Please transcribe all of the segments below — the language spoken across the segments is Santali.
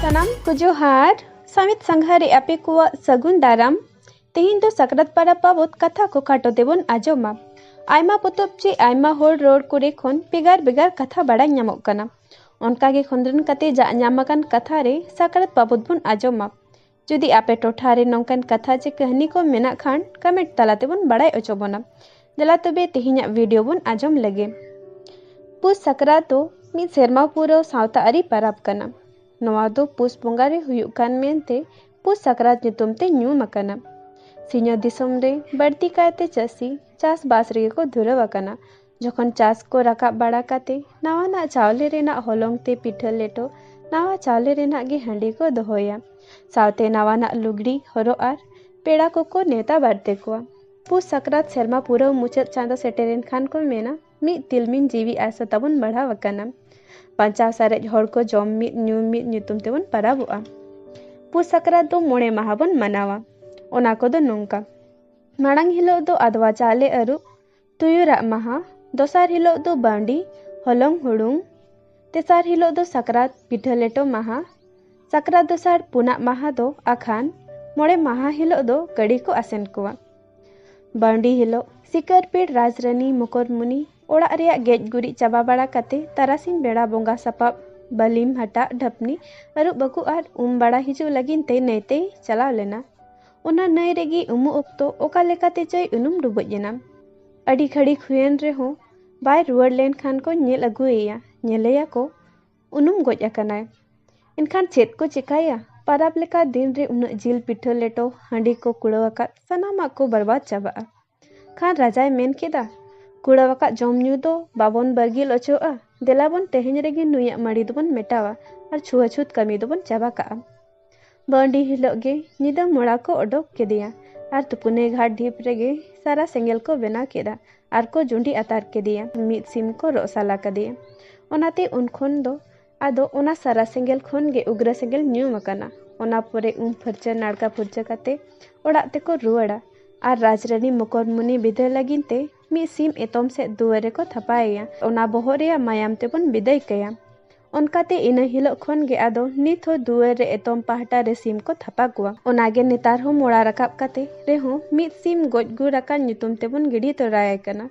ᱥᱟᱱᱟᱢ ᱠᱚ ᱡᱚᱦᱟᱨ ᱥᱟᱢᱤᱛ ᱥᱟᱸᱜᱷᱟᱨ ᱨᱮ ᱟᱯᱮ ᱠᱚᱣᱟᱜ ᱥᱟᱹᱜᱩᱱ ᱫᱟᱨᱟᱢ ᱛᱮᱦᱮᱧ ᱫᱚ ᱥᱟᱠᱨᱟᱛ ᱯᱟᱨᱟᱵᱽ ᱵᱟᱵᱚᱫ ᱠᱟᱛᱷᱟ ᱠᱚ ᱠᱷᱟᱴᱚ ᱛᱮᱵᱚᱱ ᱟᱸᱡᱚᱢᱟ ᱟᱭᱢᱟ ᱯᱚᱛᱚᱵ ᱪᱮ ᱟᱭᱢᱟ ᱦᱚᱲ ᱨᱚᱲ ᱠᱚᱨᱮ ᱠᱷᱚᱱ ᱵᱷᱮᱜᱟᱨ ᱵᱷᱮᱜᱟᱨ ᱠᱟᱛᱷᱟ ᱵᱟᱲᱟᱭ ᱧᱟᱢᱚᱜ ᱠᱟᱱᱟ ᱚᱱᱠᱟᱜᱮ ᱠᱷᱚᱸᱫᱽᱨᱚᱱ ᱠᱟᱛᱮ ᱡᱟᱜ ᱧᱟᱢ ᱟᱠᱟᱱ ᱠᱟᱛᱷᱟ ᱨᱮ ᱥᱟᱠᱨᱟᱛ ᱵᱟᱵᱚᱫ ᱵᱚᱱ ᱟᱸᱡᱚᱢᱟ ᱡᱩᱫᱤ ᱟᱯᱮ ᱴᱚᱴᱷᱟ ᱨᱮ ᱱᱚᱝᱠᱟᱱ ᱠᱟᱛᱷᱟ ᱪᱮ ᱠᱟᱹᱦᱱᱤ ᱠᱚ ᱢᱮᱱᱟᱜ ᱠᱷᱟᱱ ᱠᱚᱢᱮᱱᱴ ᱛᱟᱞᱟ ᱛᱮᱵᱚᱱ ᱵᱟᱲᱟᱭ ᱚᱪᱚ ᱵᱚᱱᱟ ᱫᱮᱞᱟ ᱛᱚᱵᱮ ᱛᱮᱦᱮᱧᱟᱜ ᱵᱷᱤᱰᱤᱭᱳ ᱵᱚᱱ ᱟᱸᱡᱚᱢ ᱞᱟᱹᱜᱤ ᱯᱩᱥ ᱥᱟᱠᱨᱟᱛ ᱫᱚ ᱢᱤᱫ ᱥᱮᱨᱢᱟ ᱯᱩᱨᱟᱹᱣ ᱥᱟᱶᱛᱟ ᱟᱹᱨᱤ ᱯᱟᱨᱟᱵᱽ ᱠᱟᱱᱟ ᱱᱚᱣᱟ ᱫᱚ ᱯᱩᱥ ᱵᱚᱸᱜᱟ ᱨᱮ ᱦᱩᱭᱩᱜ ᱠᱟᱱ ᱢᱮᱱᱛᱮ ᱯᱩᱥ ᱥᱟᱠᱨᱟᱛ ᱧᱩᱛᱩᱢ ᱛᱮ ᱧᱩᱢ ᱟᱠᱟᱱᱟ ᱥᱤᱧᱚᱛ ᱫᱤᱥᱚᱢ ᱨᱮ ᱵᱟᱹᱲᱛᱤ ᱠᱟᱭᱛᱮ ᱪᱟᱹᱥᱤ ᱪᱟᱥᱵᱟᱥ ᱨᱮᱜᱮ ᱠᱚ ᱫᱷᱩᱨᱟᱹᱣ ᱟᱠᱟᱱᱟ ᱡᱚᱠᱷᱚᱱ ᱪᱟᱥ ᱠᱚ ᱨᱟᱠᱟᱵ ᱵᱟᱲᱟ ᱠᱟᱛᱮ ᱱᱟᱣᱟᱱᱟᱜ ᱪᱟᱣᱞᱮ ᱨᱮᱱᱟᱜ ᱦᱚᱞᱚᱝ ᱛᱮ ᱯᱤᱴᱷᱟᱹ ᱞᱮᱴᱚ ᱱᱟᱣᱟ ᱪᱟᱣᱞᱮ ᱨᱮᱱᱟᱜ ᱜᱮ ᱦᱟᱺᱰᱤ ᱠᱚ ᱫᱚᱦᱚᱭᱟ ᱥᱟᱶᱛᱮ ᱱᱟᱣᱟᱱᱟᱜ ᱞᱩᱜᱽᱲᱤ ᱦᱚᱨᱚᱜ ᱟᱨ ᱯᱮᱲᱟ ᱠᱚᱠᱚ ᱱᱮᱣᱛᱟ ᱵᱟᱨᱛᱮ ᱠᱚᱣᱟ ᱯᱩᱥ ᱥᱟᱠᱨᱟᱛ ᱥᱮᱨᱢᱟ ᱯᱩᱨᱟᱹᱣ ᱢᱩᱪᱟᱹᱫ ᱪᱟᱸᱫᱚ ᱥᱮᱴᱮᱨᱮᱱ ᱠᱷᱟᱱ ᱠᱚ ᱢᱮᱱᱟ ᱢᱤᱫ ᱛᱤᱞᱢᱤᱧ ᱡᱤᱣᱤ ᱟᱥᱟ ᱛᱟᱵᱚᱱ ᱵᱟᱲᱦᱟᱣ ᱟᱠᱟᱱᱟ ᱵᱟᱧᱪᱟᱣ ᱥᱟᱨᱮᱡ ᱦᱚᱲ ᱠᱚ ᱡᱚᱢ ᱢᱤᱫ ᱧᱩ ᱢᱤᱫ ᱧᱩᱛᱩᱢ ᱛᱮᱵᱚᱱ ᱯᱟᱨᱟᱵᱚᱜᱼᱟ ᱯᱩᱥ ᱥᱟᱠᱨᱟᱛ ᱫᱚ ᱢᱚᱬᱮ ᱢᱟᱦᱟ ᱵᱚᱱ ᱢᱟᱱᱟᱣᱟ ᱚᱱᱟ ᱠᱚᱫᱚ ᱱᱚᱝᱠᱟ ᱢᱟᱲᱟᱝ ᱦᱤᱞᱳᱜ ᱫᱚ ᱟᱫᱣᱟ ᱪᱟᱣᱞᱮ ᱟᱹᱨᱩᱵ ᱛᱩᱭᱩ ᱨᱟᱜ ᱢᱟᱦᱟ ᱫᱚᱥᱟᱨ ᱦᱤᱞᱳᱜ ᱫᱚ ᱵᱟᱺᱰᱤ ᱦᱚᱞᱚᱝ ᱦᱩᱲᱩᱝ ᱛᱮᱥᱟᱨ ᱦᱤᱞᱳᱜ ᱫᱚ ᱥᱟᱠᱨᱟᱛ ᱯᱤᱴᱷᱟᱹ ᱞᱮᱴᱚ ᱢᱟᱦᱟ ᱥᱟᱠᱨᱟᱛ ᱫᱚᱥᱟᱨ ᱯᱩᱱᱟᱜ ᱢᱟᱦᱟ ᱫᱚ ᱟᱠᱷᱟᱱ ᱢᱚᱬᱮ ᱢᱟᱦᱟ ᱦᱤᱞᱳᱜ ᱫᱚ ᱜᱟᱹᱰᱤ ᱠᱚ ᱟᱥᱮᱱ ᱠᱚᱣᱟ ᱵᱟᱺᱰᱤ ᱦᱤᱞᱳᱜ ᱥᱤᱠᱟᱹᱨ ᱯᱤᱲ ᱨᱟᱡᱽ ᱨᱟᱹᱱᱤ ᱢᱩᱠᱚᱨᱢᱩᱱᱤ ᱚᱲᱟᱜ ᱨᱮᱭᱟᱜ ᱜᱮᱡ ᱜᱩᱨᱤᱡ ᱪᱟᱵᱟ ᱵᱟᱲᱟ ᱠᱟᱛᱮ ᱛᱟᱨᱟᱥᱤᱧ ᱵᱮᱲᱟ ᱵᱚᱸᱜᱟ ᱥᱟᱯᱟᱵ ᱵᱟᱹᱞᱤᱢ ᱦᱟᱴᱟᱜ ᱰᱷᱟᱹᱯᱱᱤ ᱟᱹᱨᱩᱵ ᱵᱟᱹᱠᱩ ᱟᱨ ᱩᱢ ᱵᱟᱲᱟ ᱦᱤᱡᱩᱜ ᱞᱟᱹᱜᱤᱫ ᱛᱮ ᱱᱟᱹᱭ ᱛᱮᱭ ᱪᱟᱞᱟᱣ ᱞᱮᱱᱟ ᱚᱱᱟ ᱱᱟᱹᱭ ᱨᱮᱜᱮ ᱩᱢᱩᱜ ᱚᱠᱛᱚ ᱚᱠᱟ ᱞᱮᱠᱟᱛᱮ ᱪᱚᱭ ᱩᱱᱩᱢ ᱰᱩᱵᱩᱡ ᱮᱱᱟ ᱟᱹᱰᱤ ᱜᱷᱟᱹᱲᱤᱠ ᱦᱩᱭᱮᱱ ᱨᱮᱦᱚᱸ ᱵᱟᱭ ᱨᱩᱣᱟᱹᱲ ᱞᱮᱱᱠᱷᱟᱱ ᱠᱚ ᱧᱮᱞ ᱟᱹᱜᱩᱭᱮᱭᱟ ᱧᱮᱞᱮᱭᱟᱠᱚ ᱩᱱᱩᱢ ᱜᱚᱡ ᱟᱠᱟᱱᱟᱭ ᱮᱱᱠᱷᱟᱱ ᱪᱮᱫ ᱠᱚ ᱪᱮᱠᱟᱭᱟ ᱯᱟᱨᱟᱵᱽ ᱞᱮᱠᱟ ᱫᱤᱱ ᱨᱮ ᱩᱱᱟᱹᱜ ᱡᱤᱞ ᱯᱤᱴᱷᱟᱹ ᱞᱮᱴᱚ ᱦᱟᱺᱰᱤ ᱠᱚ ᱠᱩᱲᱟᱹᱣ ᱟᱠᱟᱫ ᱥᱟᱱᱟᱢᱟᱜ ᱠᱚ ᱵᱚᱨᱵᱟᱫ ᱪᱟᱵᱟᱜᱼᱟ ᱠᱷᱟᱱ ᱨᱟᱡᱟᱭ ᱢᱮᱱ ᱠᱮᱫᱟ, ᱠᱩᱲᱟᱹᱣᱟᱠᱟᱫ ᱡᱚᱢ ᱧᱩ ᱫᱚ ᱵᱟᱵᱚᱱ ᱵᱟᱹᱜᱤᱞ ᱚᱪᱚᱜᱼᱟ, ᱫᱮᱞᱟ ᱵᱚᱱ ᱛᱮᱦᱮᱧ ᱨᱮᱜᱮ ᱱᱩᱭᱟᱜ ᱢᱟᱹᱲᱤ ᱫᱚᱵᱚᱱ ᱢᱮᱴᱟᱣᱟ ᱟᱨ ᱪᱷᱩᱣᱟᱹᱪᱷᱩᱛ ᱠᱟᱹᱢᱤ ᱫᱚᱵᱚᱱ ᱪᱟᱵᱟ ᱠᱟᱜᱼᱟ᱾ ᱵᱟᱺᱰᱤ ᱦᱤᱞᱚᱜ ᱜᱮ ᱧᱤᱫᱟᱹ ᱢᱚᱲᱟ ᱠᱚ ᱚᱰᱚᱠ ᱠᱮᱫᱮᱭᱟ ᱟᱨ ᱛᱩᱯᱩᱱᱮ ᱜᱷᱟᱴ ᱰᱷᱤᱯ ᱨᱮᱜᱮ ᱥᱟᱨᱟ ᱥᱮᱸᱜᱮᱞ ᱠᱚ ᱵᱮᱱᱟᱣ ᱠᱮᱫᱼᱟ ᱟᱨ ᱠᱚ ᱡᱩᱸᱰᱤ ᱟᱛᱟᱨ ᱠᱮᱫᱮᱭᱟ᱾ ᱢᱤᱫ ᱥᱤᱢ ᱠᱚ ᱨᱚᱜ ᱥᱟᱞᱟ ᱠᱟᱫᱮᱭᱟ᱾ ᱚᱱᱟᱛᱮ ᱩᱱ ᱠᱷᱚᱱ ᱫᱚ ᱟᱫᱚ ᱚᱱᱟ ᱥᱟᱨᱟ ᱥᱮᱸᱜᱮᱞ ᱠᱷᱚᱱ ᱜᱮ ᱩᱜᱽᱨᱟ ᱥᱮᱸᱜᱮᱞ ᱧᱩᱢ ᱟᱠᱟᱱᱟ ᱚᱱᱟ ᱯᱚᱨᱮ ᱩᱢ ᱯᱷᱟᱹᱨᱪᱟᱹ ᱱᱟᱲᱠᱟ ᱯᱷᱩᱨᱪᱟᱹ ᱠᱟᱛᱮ ᱚᱲᱟᱜ ᱛᱮᱠᱚ ᱨᱩᱣᱟᱹᱲᱟ ᱟᱨ ᱨᱟᱡᱽᱨᱟᱹᱱᱤ ᱢᱚᱠᱚᱨᱢᱩᱱᱤ ᱵᱤᱫᱟᱹᱭ ᱞᱟᱹᱜᱤᱫ ᱛᱮ ᱢᱤᱫ ᱥᱤᱢ ᱮᱛᱚᱢ ᱥᱮᱫ ᱫᱩᱣᱟᱹᱨ ᱨᱮᱠᱚ ᱛᱷᱟᱯᱟᱭᱮᱭᱟ ᱚᱱᱟ ᱵᱚᱦᱚᱜ ᱨᱮᱭᱟᱜ ᱢᱟᱭᱟᱢ ᱛᱮᱵᱚᱱ ᱵᱤᱫᱟᱹᱭ ᱠᱟᱭᱟ ᱚᱱᱠᱟᱛᱮ ᱤᱱᱟᱹ ᱦᱤᱞᱳᱜ ᱠᱷᱚᱱ ᱜᱮ ᱟᱫᱚ ᱱᱤᱛ ᱦᱚᱸ ᱫᱩᱣᱟᱹᱨ ᱨᱮ ᱮᱛᱚᱢ ᱯᱟᱦᱴᱟ ᱨᱮ ᱥᱤᱢ ᱠᱚ ᱛᱷᱟᱯᱟ ᱠᱚᱣᱟ ᱚᱱᱟᱜᱮ ᱱᱮᱛᱟᱨ ᱦᱚᱸ ᱢᱚᱲᱟ ᱨᱟᱠᱟᱵ ᱠᱟᱛᱮ ᱨᱮᱦᱚᱸ ᱢᱤᱫ ᱥᱤᱢ ᱜᱚᱡ ᱜᱩᱨ ᱟᱠᱟᱱ ᱧᱩᱛᱩᱢ ᱛᱮᱵᱚᱱ ᱜᱤᱰᱤ ᱛᱚᱨᱟᱭᱮ ᱠᱟᱱᱟ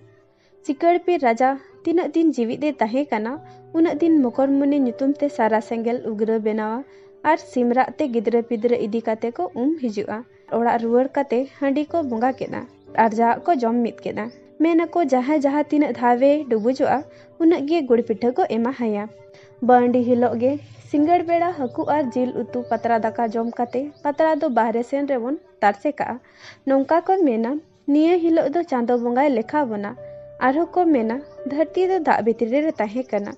ᱪᱤᱠᱟᱹᱲᱯᱤᱨ ᱨᱟᱡᱟ ᱛᱤᱱᱟᱹᱜ ᱫᱤᱱ ᱡᱤᱣᱤᱫ ᱮ ᱛᱟᱦᱮᱸ ᱠᱟᱱᱟ ᱩᱱᱟᱹᱜ ᱫᱤᱱ ᱢᱚᱠᱚᱨᱢᱩᱱᱤ ᱧᱩᱛᱩᱢ ᱛᱮ ᱥᱟᱨᱟ ᱥᱮᱸᱜᱮᱞ ᱩᱜᱽᱨᱟᱹ ᱵᱮᱱᱟᱣᱟ ᱟᱨ ᱥᱤᱢ ᱨᱟᱜ ᱛᱮ ᱜᱤᱫᱽᱨᱟᱹ ᱯᱤᱫᱽᱨᱟᱹ ᱤᱫᱤ ᱠᱟᱛᱮ ᱠᱚ ᱩᱢ ᱦᱤᱡᱩᱜᱼᱟ᱾ ᱚᱲᱟᱜ ᱨᱩᱣᱟᱹᱲ ᱠᱟᱛᱮ ᱦᱟᱺᱰᱤ ᱠᱚ ᱵᱚᱸᱜᱟ ᱠᱮᱫᱼᱟ ᱟᱨ ᱡᱟᱣᱟᱜ ᱠᱚ ᱡᱚᱢ ᱢᱤᱫ ᱠᱮᱫᱼᱟ᱾ ᱢᱮᱱ ᱟᱠᱚ ᱡᱟᱦᱟᱸᱭ ᱡᱟᱦᱟᱸ ᱛᱤᱱᱟᱹᱜ ᱫᱷᱟᱣ ᱮ ᱰᱩᱵᱩᱡᱚᱜᱼᱟ ᱩᱱᱟᱹᱜ ᱜᱮ ᱜᱩᱲ ᱯᱤᱴᱷᱟᱹ ᱠᱚ ᱮᱢᱟ ᱦᱟᱭᱟ᱾ ᱵᱟᱺᱰᱤ ᱦᱤᱞᱚᱜ ᱜᱮ ᱥᱤᱸᱜᱟᱹᱲ ᱵᱮᱲᱟ ᱦᱟᱹᱠᱩ ᱟᱨ ᱡᱤᱞ ᱩᱛᱩ ᱯᱟᱛᱲᱟ ᱫᱟᱠᱟ ᱡᱚᱢ ᱠᱟᱛᱮ ᱯᱟᱛᱲᱟ ᱫᱚ ᱵᱟᱦᱨᱮ ᱥᱮᱱ ᱨᱮᱵᱚᱱ ᱛᱟᱨᱥᱮ ᱠᱟᱜᱼᱟ᱾ ᱱᱚᱝᱠᱟ ᱠᱚ ᱢᱮᱱᱟ᱾ ᱱᱤᱭᱟᱹ ᱦᱤᱞᱚᱜ ᱫᱚ ᱪᱟᱸᱫᱚ ᱵᱚᱸᱜᱟᱭ ᱞᱮᱠᱷᱟ ᱵᱚᱱᱟ᱾ ᱟᱨᱦᱚᱸ ᱠᱚ ᱢᱮᱱᱟ ᱫᱷᱟᱹᱨᱛᱤ ᱫᱚ ᱫᱟᱜ ᱵᱷᱤᱛᱨᱤ ᱨᱮ ᱛᱟᱦᱮᱸ ᱠᱟᱱᱟ᱾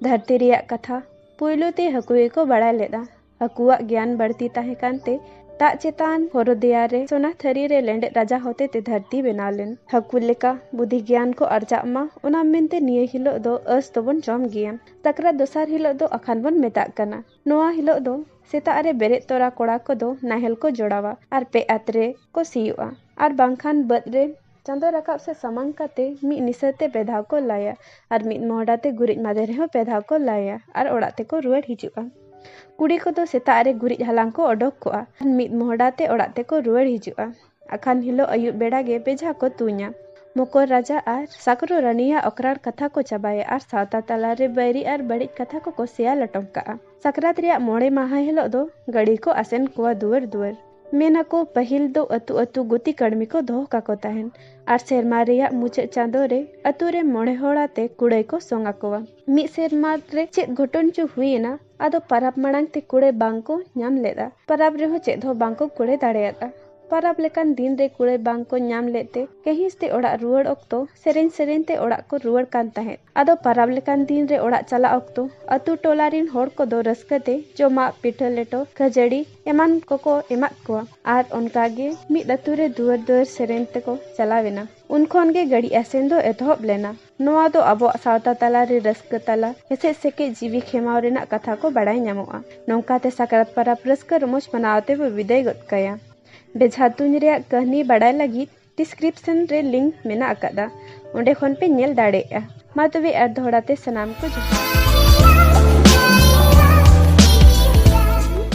ᱫᱷᱟᱹᱨᱛᱤ ᱨᱮᱭᱟᱜ ᱠᱟᱛᱷᱟ ᱯᱩᱭᱞᱩ ᱛᱮ ᱦᱟᱹᱠᱩ ᱜᱮᱠᱚ ᱵᱟᱲᱟᱭ ᱞᱮᱫᱼᱟ᱾ ᱦᱟᱹᱠᱩᱣᱟᱜ ᱜᱮᱭᱟᱱ ᱵᱟᱹᱲᱛᱤ ᱛᱟᱦᱮᱸ ᱠᱟᱱ ᱛᱮ ᱫᱟᱜ ᱪᱮᱛᱟᱱ ᱦᱚᱨᱚ ᱫᱮᱭᱟ ᱨᱮ ᱥᱚᱱᱟ ᱛᱷᱟᱹᱨᱤ ᱨᱮ ᱞᱮᱸᱰᱮᱫ ᱨᱟᱡᱟ ᱦᱚᱛᱮ ᱛᱮ ᱫᱷᱟᱹᱨᱛᱤ ᱵᱮᱱᱟᱣ ᱞᱮᱱ᱾ ᱦᱟᱹᱠᱩ ᱞᱮᱠᱟ ᱵᱩᱫᱷᱤ ᱜᱮᱭᱟᱱ ᱠᱚ ᱟᱨᱡᱟᱜ ᱢᱟ ᱚᱱᱟ ᱢᱮᱱᱛᱮ ᱱᱤᱭᱟᱹ ᱦᱤᱞᱚᱜ ᱫᱚ ᱟᱹᱥ ᱫᱚᱵᱚᱱ ᱡᱚᱢ ᱜᱮᱭᱟ᱾ ᱥᱟᱠᱨᱟᱛ ᱫᱚᱥᱟᱨ ᱦᱤᱞᱚᱜ ᱫᱚ ᱟᱠᱷᱟᱱ ᱵᱚᱱ ᱢᱮᱛᱟᱜ ᱠᱟᱱᱟ᱾ ᱱᱚᱣᱟ ᱦᱤᱞᱚᱜ ᱫᱚ ᱥᱮᱛᱟᱜ ᱨᱮ ᱵᱮᱨᱮᱫ ᱛᱚᱨᱟ ᱠᱚᱲᱟ ᱠᱚᱫᱚ ᱱᱟᱦᱮᱞ ᱠᱚ ᱡᱚᱲᱟᱣᱟ ᱟᱨ ᱯᱮ ᱟᱛ ᱨᱮ ᱠᱚ ᱥᱤᱭᱚᱜᱼᱟ ᱟᱨ ᱵᱟᱝᱠᱷᱟᱱ ᱵᱟᱹᱫᱽ ᱨᱮ ᱪᱟᱸᱫᱚ ᱨᱟᱠᱟᱵ ᱥᱮ ᱥᱟᱢᱟᱝ ᱠᱟᱛᱮ ᱢᱤᱫ ᱱᱤᱥᱟᱹ ᱛᱮ ᱯᱮ ᱫᱷᱟᱣ ᱠᱚ ᱞᱟᱭᱟ ᱟᱨ ᱢᱤᱫ ᱢᱚᱦᱰᱟ ᱛᱮ ᱜᱩᱨᱤᱡ ᱢᱟᱫᱮ ᱨᱮᱦᱚᱸ ᱯᱮ ᱫᱷᱟᱣ ᱠᱚ ᱞᱟᱭᱟ ᱟᱨ ᱚᱲᱟᱜ ᱛᱮᱠᱚ ᱨᱩᱣᱟᱹᱲ ᱦᱤᱡᱩᱜᱼᱟ᱾ ᱠᱩᱲᱤ ᱠᱚᱫᱚ ᱥᱮᱛᱟᱜ ᱨᱮ ᱜᱩᱨᱤᱡ ᱦᱟᱞᱟᱝ ᱠᱚ ᱚᱰᱚᱠ ᱠᱚᱜᱼᱟ ᱟᱨ ᱢᱤᱫ ᱢᱚᱦᱰᱟ ᱛᱮ ᱚᱲᱟᱜ ᱛᱮᱠᱚ ᱨᱩᱣᱟᱹᱲ ᱦᱤᱡᱩᱜᱼᱟ᱾ ᱟᱠᱷᱟᱱ ᱦᱤᱞᱚᱜ ᱟᱹᱭᱩᱵ ᱵᱮᱲᱟ ᱜᱮ ᱵᱮᱡᱷᱟ ᱠᱚ ᱛᱩᱧᱟ᱾ ᱢᱚᱠᱚᱨ ᱨᱟᱡᱟ ᱟᱨ ᱥᱟᱠᱨᱚ ᱨᱟᱹᱱᱤᱭᱟᱜ ᱚᱠᱨᱟᱲ ᱠᱟᱛᱷᱟ ᱠᱚ ᱪᱟᱵᱟᱭᱟ ᱟᱨ ᱥᱟᱶᱛᱟ ᱛᱟᱞᱟ ᱨᱮ ᱵᱟᱹᱭᱨᱤ ᱟᱨ ᱵᱟᱹᱲᱤᱡ ᱠᱟᱛᱷᱟ ᱠᱚ ᱠᱚ ᱥᱮᱭᱟ ᱞᱚᱴᱚᱢ ᱠᱟᱜᱼᱟ᱾ ᱥᱟᱠᱨᱟᱛ ᱨᱮᱭᱟᱜ ᱢᱚᱬᱮ ᱢᱟᱦᱟᱸ ᱦᱤᱞᱚᱜ ᱫᱚ ᱜᱟᱹᱲᱤ ᱠᱚ ᱟᱥᱮᱱ ᱠᱚᱣᱟ ᱫᱩᱣᱟᱹᱨ ᱫᱩᱣᱟᱹᱨ᱾ ᱢᱮᱱ ᱟᱠᱚ ᱯᱟᱹᱦᱤᱞ ᱫᱚ ᱟᱹᱛᱩ ᱟᱹᱛᱩ ᱜᱩᱛᱤ ᱠᱟᱹᱲᱢᱤ ᱠᱚ ᱫᱚᱦᱚ ᱠᱟᱠᱚ ᱛᱟᱦᱮᱸᱱ ᱟᱨ ᱥᱮᱨᱢᱟ ᱨᱮᱭᱟᱜ ᱢᱩᱪᱟᱹᱫ ᱪᱟᱸᱫᱚ ᱨᱮ ᱟᱹᱛᱩ ᱨᱮ ᱢᱚᱬᱮ ᱦᱚᱲ ᱟᱛᱮ ᱠᱩᱲᱟᱹᱭ ᱠᱚ ᱥᱚᱝ ᱟᱠᱚᱣᱟ᱾ ᱢᱤᱫ ᱥᱮᱨᱢᱟ ᱨᱮ ᱪᱮᱫ ᱜᱷᱚᱴᱚᱱ ᱪᱚ ᱦᱩᱭ ᱮᱱᱟ᱾ ᱟᱫᱚ ᱯᱟᱨᱟᱵᱽ ᱢᱟᱲᱟᱝ ᱛᱮ ᱠᱩᱲᱟᱹᱭ ᱵᱟᱝ ᱠᱚ ᱧᱟᱢ ᱞᱮᱫᱼᱟ᱾ ᱯᱟᱨᱟᱵᱽ ᱨᱮᱦᱚᱸ ᱪᱮᱫ ᱦᱚᱸ ᱵᱟᱝ ᱠᱚ ᱠᱩᱲᱟᱹᱭ ᱫᱟᱲᱮᱭᱟᱫᱼᱟ᱾ ᱯᱟᱨᱟᱵᱽ ᱞᱮᱠᱟᱱ ᱫᱤᱱ ᱨᱮ ᱠᱩᱲᱟᱹᱭ ᱵᱟᱝ ᱠᱚ ᱧᱟᱢ ᱞᱮᱫ ᱛᱮ ᱠᱟᱺᱦᱤᱥ ᱛᱮ ᱚᱲᱟᱜ ᱨᱩᱣᱟᱹᱲ ᱚᱠᱛᱚ ᱥᱮᱨᱮᱧ ᱥᱮᱨᱮᱧ ᱛᱮ ᱚᱲᱟᱜ ᱠᱚ ᱨᱩᱣᱟᱹᱲ ᱠᱟᱱ ᱛᱟᱦᱮᱸᱫ᱾ ᱟᱫᱚ ᱯᱟᱨᱟᱵᱽ ᱞᱮᱠᱟᱱ ᱫᱤᱱ ᱨᱮ ᱚᱲᱟᱜ ᱪᱟᱞᱟᱜ ᱚᱠᱛᱚ ᱟᱹᱛᱩ ᱴᱚᱞᱟ ᱨᱤᱱ ᱦᱚᱲ ᱠᱚᱫᱚ ᱨᱟᱹᱥᱠᱟᱹ ᱛᱮ ᱡᱚᱢᱟᱜ, ᱯᱤᱴᱷᱟᱹ ᱞᱮᱴᱚ, ᱠᱷᱟᱹᱡᱟᱹᱲᱤ ᱮᱢᱟᱱ ᱠᱚᱠᱚ ᱮᱢᱟᱫ ᱠᱚᱣᱟ᱾ ᱟᱨ ᱚᱱᱠᱟ ᱜᱮ ᱢᱤᱫ ᱟᱹᱛᱩ ᱨᱮ ᱫᱩᱣᱟᱹᱨ ᱫᱩᱣᱟᱹᱨ ᱥᱮᱨᱮᱧ ᱛᱮᱠᱚ ᱪᱟᱞᱟᱣ ᱮᱱᱟ᱾ ᱩᱱ ᱠᱷᱚᱱ ᱜᱮ ᱜᱟᱹᱲᱤ ᱟᱥᱮᱱ ᱫᱚ ᱮᱛᱚᱦᱚᱵ ᱞᱮᱱᱟ᱾ ᱱᱚᱣᱟ ᱫᱚ ᱟᱵᱚᱣᱟᱜ ᱥᱟᱶᱛᱟ ᱛᱟᱞᱟ ᱨᱮ ᱨᱟᱹᱥᱠᱟᱹ ᱛᱟᱞᱟ ᱦᱮᱥᱮᱡ ᱥᱮᱠᱮᱡ ᱡᱤᱣᱤ ᱠᱷᱮᱢᱟᱣ ᱨᱮᱱᱟᱜ ᱠᱟᱛᱷᱟ ᱠᱚ ᱵᱟᱲᱟᱭ ᱧᱟᱢᱚᱜᱼᱟ᱾ ᱱᱚᱝᱠᱟ ᱛᱮ ᱥᱟᱠᱨᱟᱛ ᱯᱟᱨᱟᱵᱽ ᱨᱟᱹᱥᱠᱟᱹ ᱨᱚᱢᱚᱡᱽ ᱢᱟᱱᱟᱣ ᱟᱛᱮ ᱵᱚ ᱵᱤᱫᱟᱹᱭ ᱜᱚᱫ ᱠᱟᱭᱟ᱾ ᱵᱮᱡᱷᱟ ᱛᱩᱧ ᱨᱮᱭᱟᱜ ᱠᱟᱹᱦᱱᱤ ᱵᱟᱲᱟᱭ ᱞᱟᱹᱜᱤᱫ ᱰᱤᱥᱠᱨᱤᱯᱥᱚᱱ ᱨᱮ ᱞᱤᱝᱠ ᱢᱮᱱᱟᱜ ᱟᱠᱟᱫᱼᱟ, ᱚᱸᱰᱮ ᱠᱷᱚᱱ ᱯᱮ ᱧᱮᱞ ᱫᱟᱲᱮᱭᱟᱜᱼᱟ᱾ ᱢᱟ ᱛᱚᱵᱮ ᱟᱨ ᱫᱚᱦᱲᱟ ᱛᱮ ᱥᱟᱱᱟᱢ ᱠᱚ ᱡᱚᱦᱟᱨ᱾